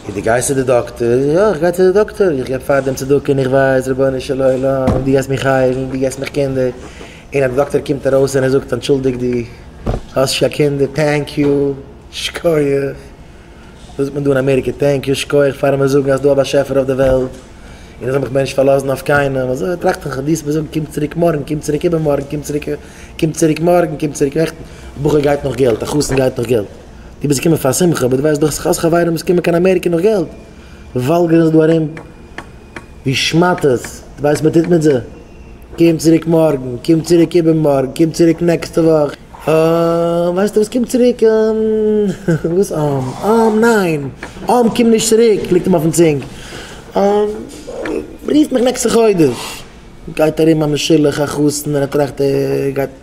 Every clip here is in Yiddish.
און דו גייסט צו די דאקטער, יא איך גיי צו די דאקטער, איך געב פאר דעם צדקה און איך ווייס רבונו של עולם אויב דו גייסט מיך היילן, דו געבסט מיך קינדער, און אז די דאקטער קומט ארויס און ער זאגט אנטשולדיג דו האסט נישט קיין קינדער, טענק יו, שקויעך, וואס זאגט מען דא אין אמעריקע, טענק יו, שקויעך פארן מיר זאגן אז דא א באשעפער אויף די וועלט, און איך זאל מיך מער נישט פארלאזן אויף קיינעם, אזוי טראכט איך, דו האסט מיר געזאגט קום צוריק מארגן, קום צוריק איבערמארגן, קום צוריק, קום צוריק מארגן, קום צוריק נעכטן, א בחור גייט נאך געלט, א חתן גייט נאך געלט. דו ביסט געקומען פאר א שמחה, אבער דו ווייסט דאך ס'איז חס חברים וואס קומען קיין אמעריקע נאך געלט, וואלגערן זיך דא ארום ווי שמאטעס, דו ווייסט וואס מ'טוט מיט זיי? קום צוריק מארגן, קום צוריק איבערמארגן, קום צוריק נעקסטע וואך, אהמ, ווייסטו וואס קום צוריק אהמ, וואס אהמ, אהמ ניין, אהמ קום נישט צוריק, ליגט אים אויפן צונג, אהמ, רוף מיך נעקסטע חודש, גייט ארום א משולח, א חתן, און ער טראכט ער גייט.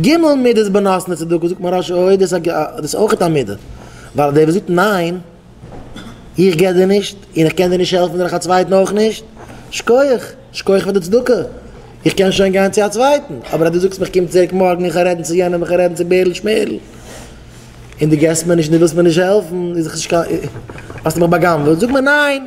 ג' מידות בנותנות צדקה זאגט מוהרא ש אוי דאס איז אויך א מידה, ווייל דער וואס זאגט ניין, איך גיב דיר נישט, און איך קען דיר נישט העלפן דורך א צווייטן אויך נישט, שכוח, שכוח פאר די צדקה, איך קען שוין גיין צו א צווייטן, אבער אז דו זאגסט מיך קום צוריק מארגן איך וועל רעדן צו יענעם איך וועל רעדן צו בערל שמערל, און דו גיבסט מיר נישט און דו ווילסט מיר נישט העלפן, האסטו מיך בא'גנב'עט, זאג מיר ניין!